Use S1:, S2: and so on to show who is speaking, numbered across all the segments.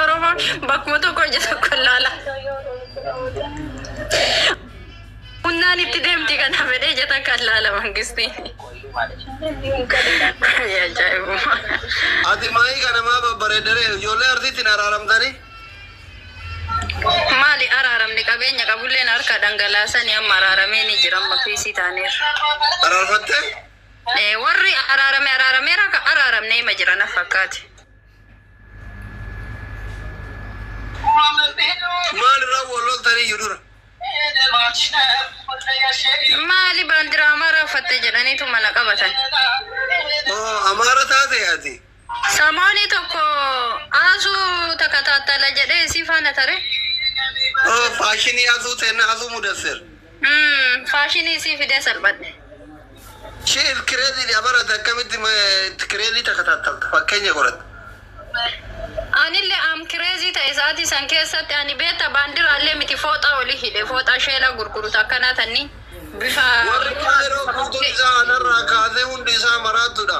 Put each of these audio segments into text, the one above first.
S1: Oromoon bakkuma tokko ija tokko ilaala. Humnaan itti deemti kan hafedhee ija takka ilaala mangistii. Ajaa'ibummaa. Ati
S2: maayii kana maa babbareeddare ijoollee arsiitti hin araaramtanii?
S1: Maali araaramni qabeenya qabulleen harka dhangalaasanii amma araaramee ni jira amma fiisii taaneerra. Araarfattee? Warri araarame araarameera ka araaramne ima jira na fakkaate.
S2: Maal irraa wal loltanii iyyuu
S1: dura? Maali baandiraa amaaraa uffatte jedhaniitu mana qabatan. Oo
S2: amaara taate ati? Samooni
S1: tokko Aazuu takka taattala jedhee isii faana tare. Oh,
S2: faashinii Aazuu teenna Aazuu Mudassir. Mm,
S1: faashinii isii fidee salphadhe. She
S2: is crazy dha bara ati akkamitti ma- itti crazy takka taattalta fakkeenya godhatte.
S1: Anillee am kireezii ta'e sa'aatii san keessatti ani beekta baandiraallee miti fooxaa oli hidhe fooxaa sheelaa gurguru takkanaa tanni bifa Warri kaayiroo
S2: guutuun isaa anarraa kaasee hundi isaa maraattudha.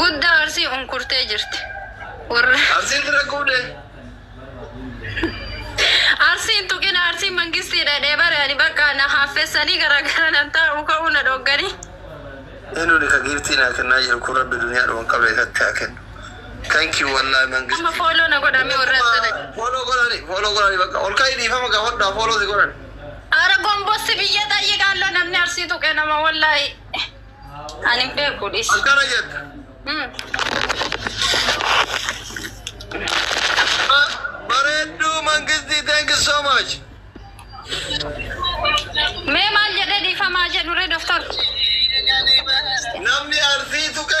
S2: Guddaa
S1: arsii unkurtee jirti. Warra Arsiin
S2: bira guudee.
S1: arsiin tuqina arsiin mangistii dhadhee bare ani bakka na haaffessanii garaagara nan taa'u ka'uu na dhogganii. Enuni
S2: ka giiftii naa kennaa jiru kun rabbi duniyaa dhuman qabne isatti haa kennu. Thank you wallahi Amma mangisti. fooloo na godhamee
S1: warra akkana. Follow godhani,
S2: follow godhani bakka. Ol ka'i dhiifama gaafadhaa follow si godhani. Ara
S1: gombossi biyya xayyiqaallo namni arsii tuqe nama wallahi. Ani hin beeku dhis. Akkana jette.
S2: Hmm. Ba- Bareedduu mangistii thank you so much.
S1: Mee maal jedhee dhiifamaa jedhu ree doktor? Namni
S2: arsii tuqe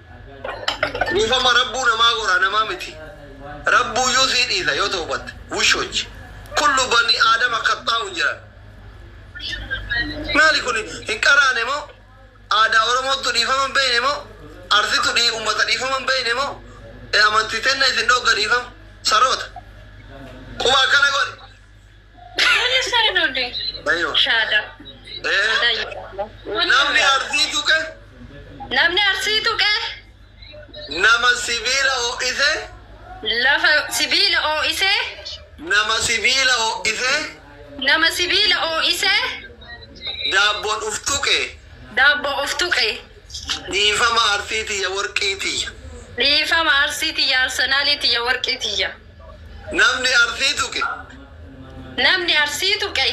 S2: Dhiifama rabbuu namaa goraa namaa miti rabbuuyyuu sii dhiisa yoo towbatte wushoch kullu bani aadama kaxxaa'un jiran maali kuni hin qaraane moo aadaa oromoottu dhiifama hin beeyne moo arsitu dhii ummata dhiifama hin beeyne moo amantii tenna isin dhoogga dhiifama saroota quba akkana godhi Namni arsii tuqe. Namni
S1: arsii tuqe.
S2: Nama sibiila ho'ise. Lafa
S1: sibiila ho'ise. Nama
S2: sibiila ho'ise. Nama
S1: sibiila ho'ise.
S2: Daabboon uf tuqe. Daabboo uf
S1: tuqe. Dhiifama
S2: arsii tiyya worqii tiyya. Dhiifama
S1: arsii tiyya arsenaalii tiyya worqii tiyya. Namni
S2: Arsii tuqe.
S1: Namni Arsii tuqe.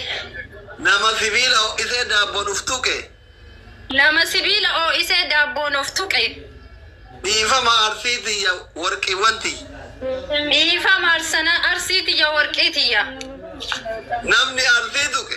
S1: Nama
S2: sibiila ho'isee daabboon of tuqe. Nama
S1: sibiila ho'isee daabboon of tuqe. Dhiifama
S2: Arsii tiyya worqiiwwan tiyya.
S1: Dhiifama Arsii tiyya worqii tiyya.
S2: Namni Arsii tuqe.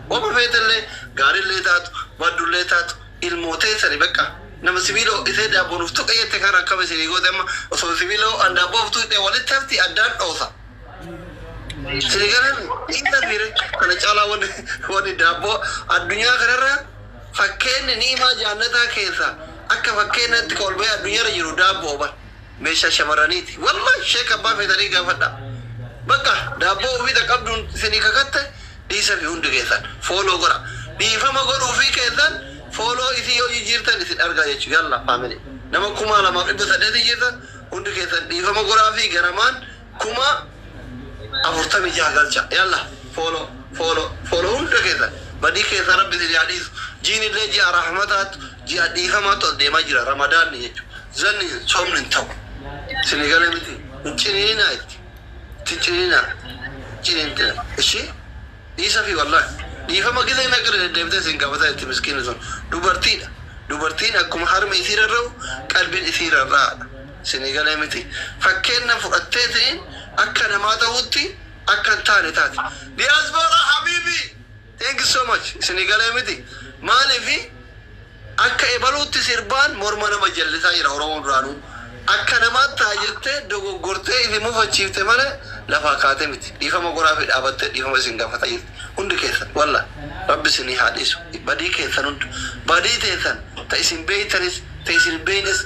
S2: Woma feetellee, gaarillee taatu, baddullee taatu, ilmoo teessani beqqa. Nama sibiila ho'isee daabboo nuuf tuqe jette kana akkam isinii goote amma? Osoo sibiila ho'aan daabboo of tuqxe walitti hafti addaan dhoosa. Isinii galan dhiisafiire kana caalaa wanni wanni daabboo addunyaa kanarra fakkeenni ni'imaa jaannataa keessaa akka fakkeennaatti ka ol bahee addunyaarra jiru daabbo'o bar. Meeshaa shamarraniiti wallahi sheek abbaa feetanii gaafadha baqqaa daabboo ufii ta qabduun isinii kakatte dhiisafi hundi keessan follow godha dhiifama godhuufii keessan follow isii yoo jijiirtan isin argaa jechu yalla family nama 2800 jirtan hundi keessan dhiifama godhaafii garamaan Kuma afurtamii jaha galcha yallah follow follow follow hunda keessan badii keessan rabbi isin yaa dhiisu jiinillee ji'a rahmataatu ji'a dhiifamaatu as deemaa jira ramadaanni jechu zanni soomni hin ta'u isinii gale miti hin ciniininaa itti itti hin ciniininaa ciniintina ishii dhiisafii wallah dhiifama gizee meeqa irra deddeebitee isin gaafata jirti miskiinni sun dubartiidha dubartiin akkuma harmi isii rarra'u qalbiin isii rarra'aadha Sinii galee miti. Fakkeenna fudhatteeti akka namaa tahuutti akka hin taane taate. Diaspora habibi thank you so much isinii galee miti maaliifi akka ebaluutti sirbaan morma nama jallisaa jira oromoo duraanuu akka namaatti taha jettee dogoggortee ifi mufachiifte malee lafaa kaate miti dhiifama godhaafi dhaabattee dhiifama isin gaafata jirti hundi keessan wallah rabbi isinii haa dhiisu badii keessan hunda badii teessan ta isin beeytanis ta isin hin beeynes